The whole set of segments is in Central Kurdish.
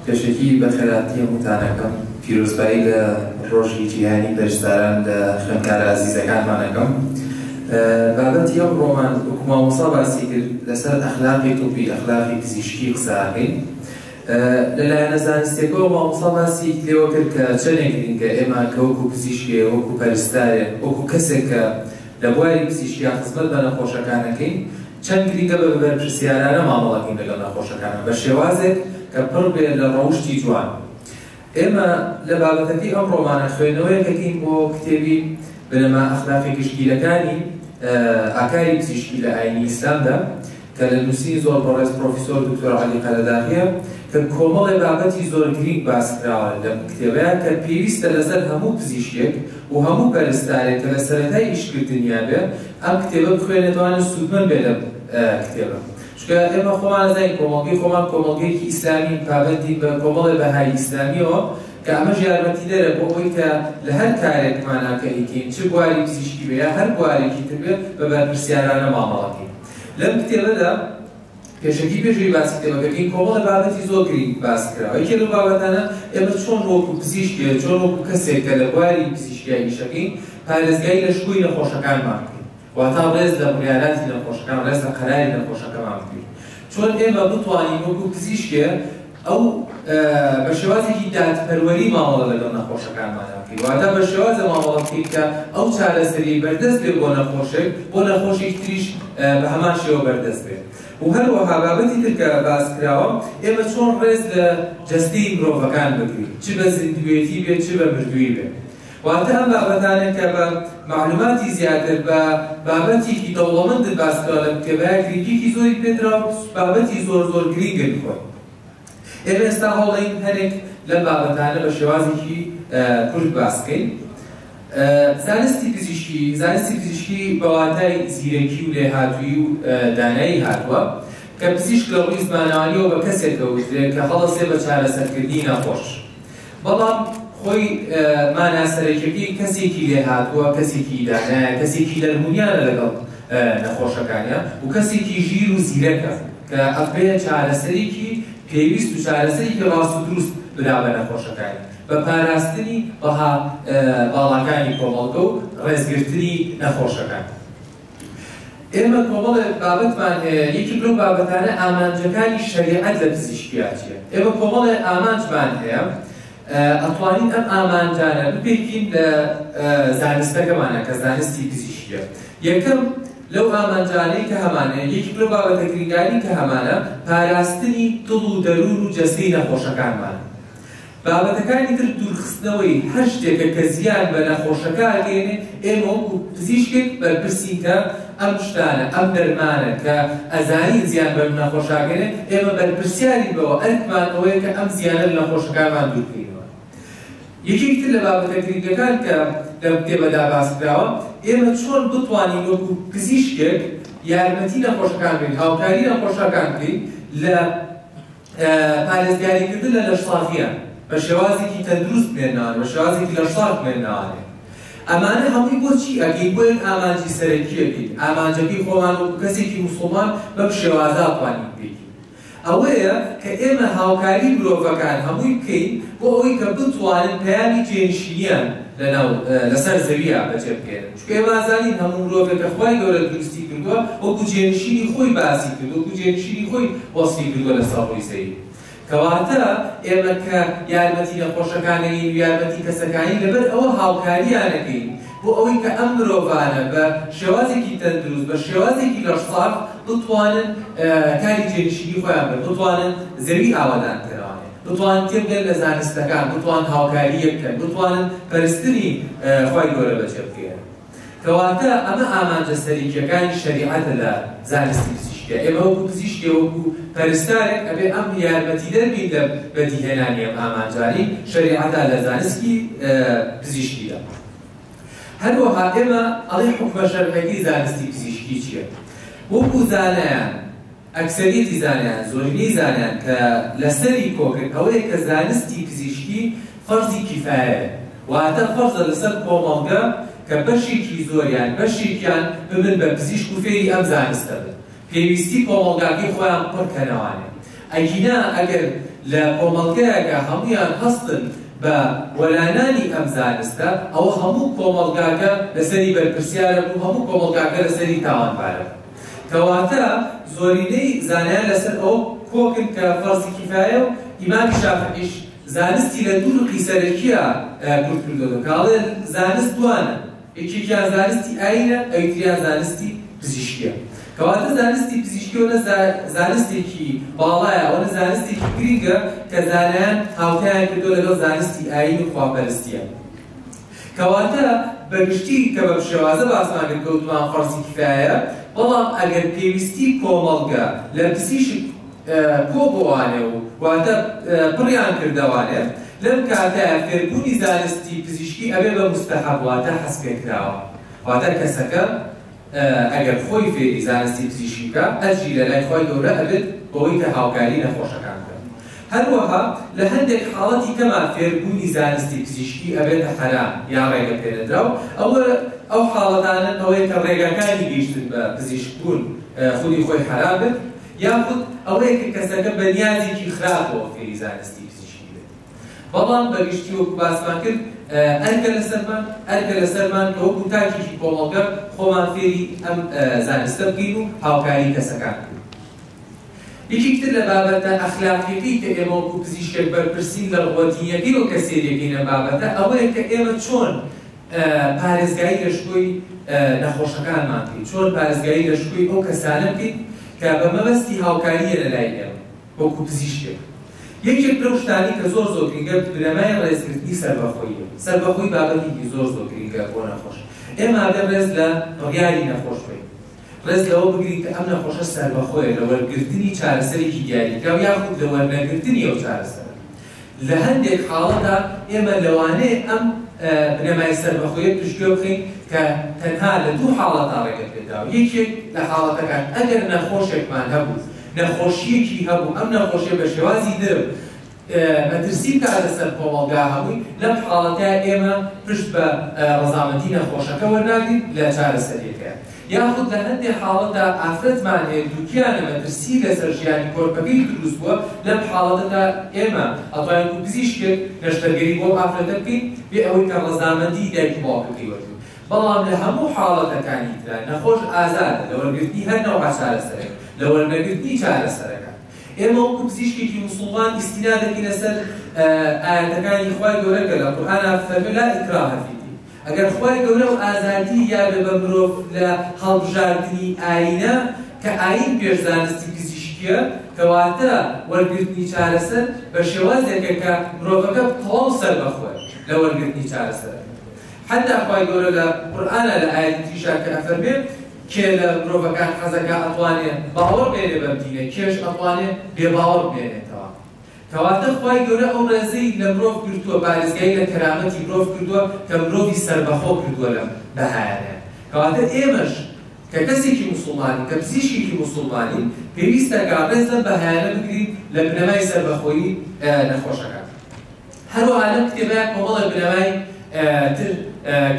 پێشەکی بە خێراتنی هەمووتانەکەم. پیرۆزبایی لە ڕۆژی جیهانی پەرستاران لە خوێندکارە ئازیزەکانمان ئەکەم. بابەتی ئەمڕۆمان وەکو مامۆستا باسی کرد لەسەر ئەخلاقی طبی، ئەخلاقی پزیشکی قسە ئەکەین. لە لایەنە زانستیەکەوە مامۆستا باسی لێوە کرد کە چەنێک گرینگە ئێمە کە وەکو پزیشکێ، وەکو پەرستارێ، وەکو کەسێک کە لە بواری پزیشکیا خزمەت بە نەخۆشەکان ئەکەین، چەند گرنگە بە بەرپرسیارانە مامەڵە بکەین لەگەڵ نەخۆشەکانمان بە شێوازێک کە پڕ بێت لە ڕەوشتی جوان. ئێمە لە بابەتەکەی ئەمڕۆمانە خوێندنەوەیەک ئەکەین بۆ کتێبی، بنەما اخلاقی گشتگیرەکانی ئاکاری پزیشکی لە ئاینی ئیسلامدا، کە لە نووسینی زۆر بەڕێز پرۆفیسۆر دکتۆر عەلی قەرەداغییە کە کۆمەڵێ بابەتی زۆر گرینگ باس کراوە لەم کتێبەیا کە پێویستە لەسەر هەموو پزیشکێک و هەموو پەرستارێک کە لە سەرەتای ئیش کردنیا بێ ئەم کتێبە بخوێنێتەوانە سوودمەند بێ لەم کتێبە چونکە ئێمە خۆمان ئەزانین کۆمەڵگەی خۆمان کۆمەڵگەیەکی ئیسلامین پابەندین بە کۆمەڵێ بەهای ئیسلامیەوە کە ئەمەش یارمەتیدەرە بۆ ئەوەی کە لە هەر کارێکماناکە ئیکەین چ بواری پزیشکی بێ یا هەر بوارێکی تر بێ بە بەرپرسیارانە مامەڵەکەین لەم کتێبەدا پێشەکی پێش ئەوی باسی کتێبەکە بکەین کۆمەڵێ بابەتی زۆر گرینگ باس کراوە یەکێ لەو بابەتانە ئێمە چۆن وەکو پزیشکێ چۆن وەکو کەسێک کە لە بواری پزیشکیای ئیشەکەین پارێزگای لە شکۆی نەخۆشەکانمان بکەین واتا ڕێز لە بڕیاراتی نەخۆشەکان ڕێز لە قەراری نەخۆشەکەمان بگرین چۆن ئێمە بتوانین وەکو پزیشکێ ئەو بە شێوازێکی دادپەروەری مامەڵە لەگەڵ نەخۆشەکانمانە بکەین، واتە بە شێوازە مامەڵە بکەین کە ئەو چارەسەرییەی بەردەست بێت بۆ نەخۆشێک، بۆ نەخۆشێکی تریش بە هەمان شێوە بەردەست بێت. و هەروەها بابەتی تر کە باس کراوە، ئێمە چۆن ڕێز لە جەستەی مرۆڤەکان بگرین، چ بە زیندووێتی بێت، چ بە مردوویی بێت. واتە ئەم بابەتانە کە بە مەعلوماتی زیاتر بە بابەتێکی دەوڵەمەندت باس کراوە لە کتێبەیا گرنگیەکی زۆری پێدرا و بابەتی زۆر زۆر گرینگن خۆی ئێمە ئێستا هەوڵەین هەرێک لەم بابەتانە بە شێوازێکی کورت باس بکەین زانستی پزیشکی زانستی پزیشکی بەواتای زیرەکی و لێهاتووی و دانایی هاتووە کە پزیشک لە ڕووی زمانەوانیەوە بە کەسێک کەوترێت کە هەڵەسێ بە چارەسەرکردنی نەخۆش بەڵام خۆی مانا سەرەکیەکەی کەسێکی لێهاتووە، کەسێکی ئیدانایە، کەسێکی لەرمونیانە لەگەڵ نەخۆشەکانیان و کەسێکی ژیر و زیرەکە کە ئەبێ چارەسەرێکی پێویست و چارەسەرێکی ڕاست و دروست بدا بە نەخۆشەکانی بە پاراستنی بەها باڵاکانی کۆمەڵگە و ڕێزگرتنی نەخۆشەکان. ئێمە کۆمەڵێک بابەتمان هەیە، یەکێک لەو بابەتانە ئامانجەکانی شەریعەت لە پزیشکیاتیە. ئێمە کۆمەڵێک ئامانجمان هەیە، ئەتوانین ئەم ئامانجانە بپێکین لە زانستەکەمانە کە زانستی پزیشکیە. یەکەم لەو ئامانجانەی کە هەمانە یەکێک لەو بابەتە گرنگانی کە هەمانە پاراستنی دڵ و دەروون و جەستەی نەخۆشەکانمانە. بابەتەکانی تر دوورخستنەوەی هەر شتێکە کە زیان بە نەخۆشەکە ئەگەیەنێت، ئێمە وەکو پزیشکێک بەرپرسین کە ئەم شتانە، ئەم دەرمانە کە ئەزانین زیان بە نەخۆش ئەگەیەنێت، ئێمە بەرپرسیارین بەوە، ئەرکمان ئەوەیە کە ئەم زیانە لە نەخۆشەکانمان دووربکەینەوە. یەکێکی تر لە بابەتە گرنگەکان کە لەم کتێبەدا باسکراوە، ئێمە چۆن بتوانین وەکو پزیشکێک یارمەتی نەخۆشەکان بین، هاوکاری نەخۆشەکان بکەین لە پارێزگاریکردن لە لەشساغییان بە شێوازێکی تەندروست بمێننەوە، بە شێوازێکی لەشساغ بمێننەوە. ئەمانە هەمووی بۆ چی ئەکەین؟ بۆ ئەوەی ئامانجی سەرەکی ئەکەین، ئامانجەکەی خۆمان وەکو کەسێکی موسڵمان بەم شێوازە ئەتوانین بگەین. ئەوەیە کە ئێمە هاوکاریی مرۆڤەکان هەمووی بکەین بۆ ئەوەی کە بتوانن پەیامی جێنشینییان لەسەر زەوییە بەجێبهێنن. پێم ئازانی هەموو مرۆڤێک کە خوای گەورە دروستی کردووە وەکو جێنشینی خۆی باسی کرد وەکو جێنشینی خۆی وەسفی کردووە لەسەر ڕووی زەین کەواتە ئێمە کە یارمەتی نەخۆشەکانەین ویارمەتی کەسەکانی لەبەر ئەوە هاوکاریانەکەین بۆ ئەوەی کە ئەم مرۆڤانە بە شێوازێکی تەندروست بە شێوازێکی لەشساغ بتوانن کاری جێنشینی خۆیان بن بتوانن زەوی ئاوەدان کەرەوە. بتوانن تێبگەن لە زانستەکان، بتوانن هاوکاری یەک بکەن، بتوانن پەرستنی خوای گەورە بەجێبگەیەنن. کەواتە ئەمە ئامانجە سەرەکییەکانی شەریعەتە لە زانستی پزیشکیا. ئێمە وەکو پزیشکێ، وەکو پەرستارێک ئەبێ ئەم یارمەتیدەر بین لە بەدیهێنانی ئەم ئامانجانەی شەریعەتا لە زانستی پزیشکیدا. هەروەها ئێمە ئەڵێین حوکمە شەرعیەکەی زانستی پزیشکی چییە؟ وەکو زانایان ئەکسەریەتی زانایان، زۆرینەی زانایان، کە لە سەری کۆکن ئەوەیە کە زانستی پزیشکی فەرزی کیفایەیە، واتە فەرزە لە سەر کۆمەڵگە کە بەشێکی زۆر یان بەشێکیان ببن بە پزیشک و فێری ئەم زانستە بن پێویستی کۆمەڵگاکەی خۆیان پڕ کەنەوانێ ئەگینا ئەگەر لە کۆمەڵگەیەکە هەموویان هەستن بە وەلانانی ئەم زانستە ئەوە هەموو کۆمەڵگاکە لە سەری بەرپرسیارە و هەموو کۆمەڵگاکە لە سەری تاوانبارە. کەواتە زۆرینەی زانایان لەسەر ئەوە کۆکن کە فەرزی کیفایە و ئیمامی شافعیش زانستی لە دوو نوقی سەرەکیە کورت کردۆتەوە کە ئەڵێ زانست دوانە یەکێکیان زانستی ئاینە ئەویتریان زانستی پزیشکیە کەواتە زانستی پزیشکی وەنە زانستێکی باڵایە وەنە زانستێکی گرینگە کە زانایان هاوتایان کردو لەگەڵ زانستی ئاین و خواپەرستیە کەواتە بەگشتی کە بەم شێوازە باسمان کرد گوتمان فەرزی کیفایەیە، بەڵام ئەگەر پێویستی کۆمەڵگە لە پزیشک کۆ بۆانێ و واتە پڕیان کردەوانێ لەم کاتەیا فێربوونی زانستی پزیشکی ئەبێ بە موستەحەب واتە حەز پێکراوە واتە کەسەکە ئەگەر خۆی فێری زانستی پزیشکی بکا ئەجری لەلای خوای گەورە ئەگرت بەوەی کە هاوکاری نەخۆشەکان بکەن هەروەها لە هەندێک حاڵەتی کەمان فێربوونی زانستی پزیشکی ئەبێتە حەرام یان ڕێگە پێنەدراو ئەوە ئەو حاڵەتانەن ئەوەی کە ڕێگاکانی گەیشتن بە پزیشک بوون خودی خۆی حەرام بێت یاخود ئەوەیە کە کەسەکە بەنیازێکی خراپەوە فێری زانستی بەڵام بەگشتی وەکو باسمان کرد ئەرکە لەسەرمان ئەرکە لەسەرمان کە وەکو تاکێکی کۆمەڵگە خۆمان فێری ئەم زانستە بکەین و هاوکاری کەسەکان بکەین. یەکێکی تر لە بابەتە ئەخلاقیەکەی کە ئێمە وەکو پزیشکێک بەرپرسین لە ڕووە دینیەکەی و کەسێریەکەی لەم بابەتە ئەوەیە کە ئێمە چۆن پارێزگاری لە شکۆی نەخۆشەکانمان بکەین، چۆن پارێزگاری لە شکۆی ئەو کەسانە بکەین کە بە مەبەستی هاوکاریە لەلای ئێمە. وەکو پزیشکێک یەکێک لەو شتانەی کە زۆر زۆر گرینگە بنەمای ڕێزگرتنی سەربەخۆییە، سەربەخۆیی بابەتێکی زۆر زۆر گرینگە بۆ نەخۆش، ئێمە ئەگەر ڕێز لە بڕیاری نەخۆش بگرین، ڕێز لەوە بگرین کە ئەم نەخۆشە سەربەخۆیە لە وەرگرتنی چارەسەرێکی دیاریکراو یاخود لە وەرنەگرتنی ئەو چارەسەرە. لە هەندێک حاڵەتدا ئێمە لەوانەیە ئەم بنەمای سەربەخۆیە پشتگوێ بخەین کە تەنها لە دوو حاڵەتدا ڕێگە پێدراوە، یەکێک لە حاڵەتەکان ئەگەر نەخۆشێکمان هەبوو، نەخۆشییەکی هەبوو، ئەم نەخۆشییە بە شێوازی درم مەترسی بکات لەسەر کۆمەڵگا هەمووی، لەم حاڵەتەیا ئێمە پشت بە ڕەزامەندی نەخۆشەکە وەرناگرین لە چارەسەرییەکەیا. یاخود لە هەندێ حاڵەتدا ئافرەتمان هەیە دووگیانە مەترسیی لەسەر ژیانی کۆرپەکەی دروست بووە، لەم حاڵەتەدا ئێمە ئەتوانین وەکو پزیشکێک نەشتەرگەری بۆ ئەو ئافرەتە بکەین بێ ئەوەی کە ڕەزامەندیی دایک و باوکەکەی وەربگرین. بەڵام لە هەموو حاڵەتەکانی ترا نەخۆش ئازادە لە وەرگرتنی هەر نەوعە چارەسەرێک لە وەرنەگرتنی چارەسەرەکە. ئێمە وەکو پزیشکێکی موسوڵمان ئیستینا دەکەینە سەر ئایەتەکانی خوای گەورە کە لە قورئانا فەرمووی، لا اکراه فی الدین، ئەگەر خوای گەورە و ئازادی یا بێ بە مرۆڤ لە هەڵبژاردنی ئایینە، کە ئایین پێش زانستی پزیشکییە، کەواتە وەرگرتنی چارەسەر بە شێوازێکە کە مرۆڤەکە تەواو سەربەخۆیە لە وەرگرتنی چارەسەرەکە. حەتتا خوای گەورە لە قورئانا لە ئایەتی تریشا کە ئەفەرمێ، کێ لە مرۆڤەکان حەزەکا ئەتوانێ باوەڕ بێنێ بەم دینە، کێش ئەتوانێ بێباوەڕ بمێنێتەوە. کەواتە خوای گەورە ئەو ڕێزەی لە مرۆڤ گرتووە پارێزگای لە کەرامەتی مرۆڤ کردووە کە مرۆڤی سەربەخۆ کردووە لەم بەهایانەیان کەواتە ئێمەش کە کەسێکی موسڵمانین کە پزیشکێکی موسڵمانین پێویستە کە ڕێز لەم بەهایانە بگرین لە بنەمای سەربەخۆیی نەخۆشەکان هەروەها لەم کتێبەیە کۆمەڵێک بنەمای تر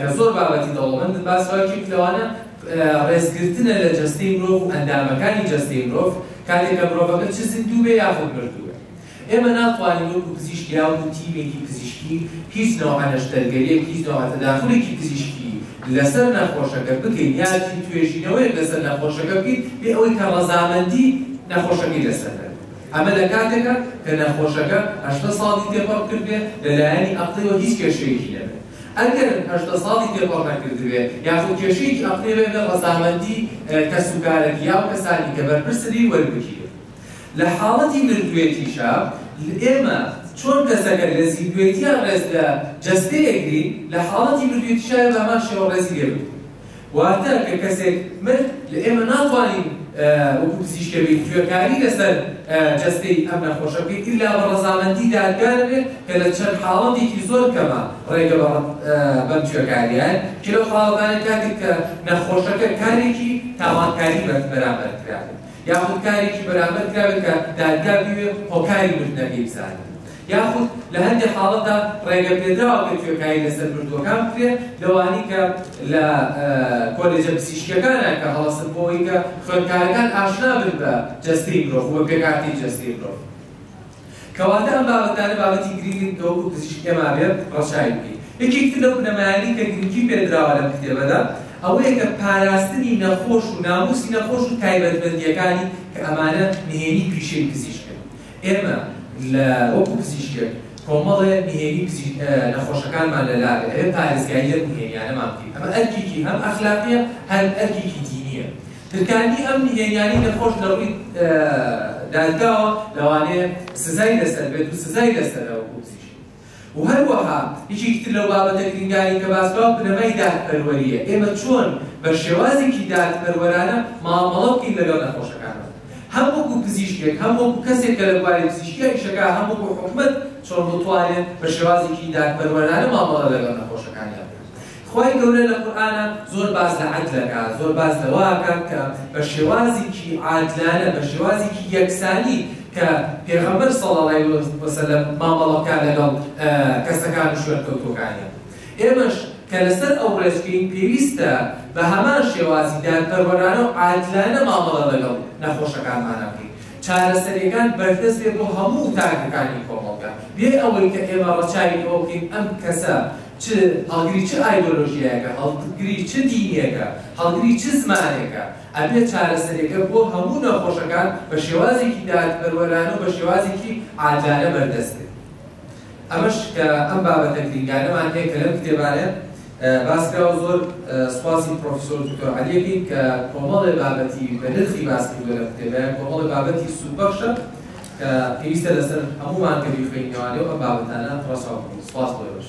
کە زۆر بابەتی دەوڵەمەندن باس ڕای کرد لەوانە ڕێزگرتنە لە جەستەی مرۆڤ و ئەندامەکانی جەستەی مرۆڤ کاتێک کە مرۆڤەکە چ زیندوو بێ یاخود مردوو بێ. ئێمە ناتوانین وەکو پزیشک یاوکو تیمێکی پزیشکی هیچ نەوعە نەشتەرگەریەک، هیچ نەوعە تەداخولێکی پزیشکی لەسەر نەخۆشەکە بکەین یان چ توێژینەوەیەک لەسەر نەخۆشەکە بکەین بێ ئەوەی کە ڕەزامەندی نەخۆشەکەی لەسەر نەبێت. ئەمە لە کاتێکا کە نەخۆشەکە هەشتا ساڵی تێپەڕ کردبێ لە لایەنی ئەقڵیەوە هیچ کێشەیەکی نەبێت. ئەگەر هەژدە ساڵی تێپەڕ نەکردبێت یاخود کێشەیەکی ئەقڵی بێت بێ ڕەزامەندی کەسوکارەکی یاو کەسانی کە بەرپرسن ی وەربگیرێت لە حاڵەتی مردوێتیشا ئێمە چۆن کەسەکە لە زیندوێتیا ڕێز لە جەستەیەک گرین لە حاڵەتی مردوێتیشا بە هەمان شێوە ڕێزی لێ بگرین واتە کە کەسێک مرد لە ئێمە ناتوانین وەکو پزیشکە بێت گوێکاری لەسەر جەستەی ئەم نەخۆشە بکەین ئیلا بە ڕەزامەندی دادگا دەبێت کە لە چەند حاڵەتێکی زۆر کەمە ڕێگە بە بەم گوێکاریان کە لەو حاڵەتانە کاتێک کە نەخۆشەکە کارێکی تاوانکاری بەرز بەرامبەر کرابێت یاخود کارێکی بەرامبەر کرابێت کە دادگا بوێت هۆکاری مردنەکەی بزانێت یاخود لە هەندێ حاڵەتدا ڕێگە پێدراوە کە توێکایی لەسەر مردووەکان بکرێت لەوانی کە لە کۆلێجە پسیشکەکانە کە هەڵەسن بۆی کە خوێندکارەکان ئاشنا بن بە جەستەی مرۆڤ و پێکاتی جەستەی مرۆڤ کەواتە ئەم بابەتانە بابەتی گرینگن کە وەکو پزیشک ئێمە بێت ڕەچاوی بکەین یەکێکتر لەو بنەمایانی کە گرنگی پێدراوە لەم کتێبەدا ئەوەیە کە پاراستنی نەخۆش و ناموسی نەخۆش و تایبەتمەندیەکانی کە ئەمانە نهێنی پیشەی پزیشکن ئێمە لە وەکو پزیشکێک کۆمەڵێ نهێنی پزی نەخۆشەکانمان لە لاگە ئەوێ پارێزگایی لەم نهێنیانەمان بکەین ئەمە ئەرکێکی هەم ئەخلاقیە هەر ئەرکێکی دینیە درکاندنی ئەم نهێنیانی نەخۆش لە ڕووی دادگاوە لەوانەیە سزای لەسەر بێت و سزای لەسەرەوە و هەروەها یەکێکی تر لەو بابەتە گرنگانەی کە باس کراوە بنەمای دادپەروەرییە، ئێمە چۆن بە شێوازێکی دادپەروەرانە مامەڵە بکەین لەگەڵ نەخۆشەکانمان، هەم وەکو پزیشکێک، هەم وەکو کەسێک کە لە بواری پزیشکیدا ئیش دەکات، هەم وەکو حکومەت چۆن بتوانێت بە شێوازێکی دادپەروەرانە مامەڵە لەگەڵ نەخۆشەکانیان بکات. خوای گەورە لە قورئانا زۆر باس لە عەدل ئەکا زۆر باس لەوە ئەکا کە بە شێوازیکی عادلانە بە شێوازیکی یەکسانی کە پێغەمبەر صلی اللە علیە وسلم مامەڵە بکا لەگەڵ کەسەکان و شوێنکەوتوەکانیان ئێمەش کە لەسەر ئەو ڕێچکەی پێویستە بە هەمان شێوازی دادپەروەرانە و عادلانە مامەڵە لەگەڵ نەخۆشەکانمانە بکەین چارەسەریەکان بەردەست بێ بۆ هەموو تاکەکانی کۆمەڵگا بێ ئەوەی کە ئێمە ڕەچاوی ئەوکەین ئەم کەسە چ هەڵگری چ ئایدۆلۆژیایەکە، هەڵگری چ دینێکە، هەڵگری چ زمانێکە، ئەبێت چارەسەرێکە بۆ هەموو نەخۆشەکان بە شێوازێکی دادپەروەرانە و بە شێوازێکی عاجلانە بەردەست بێت. ئەمەش کە ئەم بابەتە گرینگانەمان هەیە کە لەم کتێبانە باس کراوە، زۆر سوپاسی پرۆفیسۆر دکتۆر عەلی ئەکەین کە کۆمەڵێ بابەتی بەنرخی باس کردووە لەم کتێبە، کۆمەڵێ بابەتی سوودبەخشە. کە پێویستە لەسەر هەموومان کە بیخوێنینەوە لێو ئەم بابەتانە ڕەچاو بکەین سوپاس بۆ ئێوەش.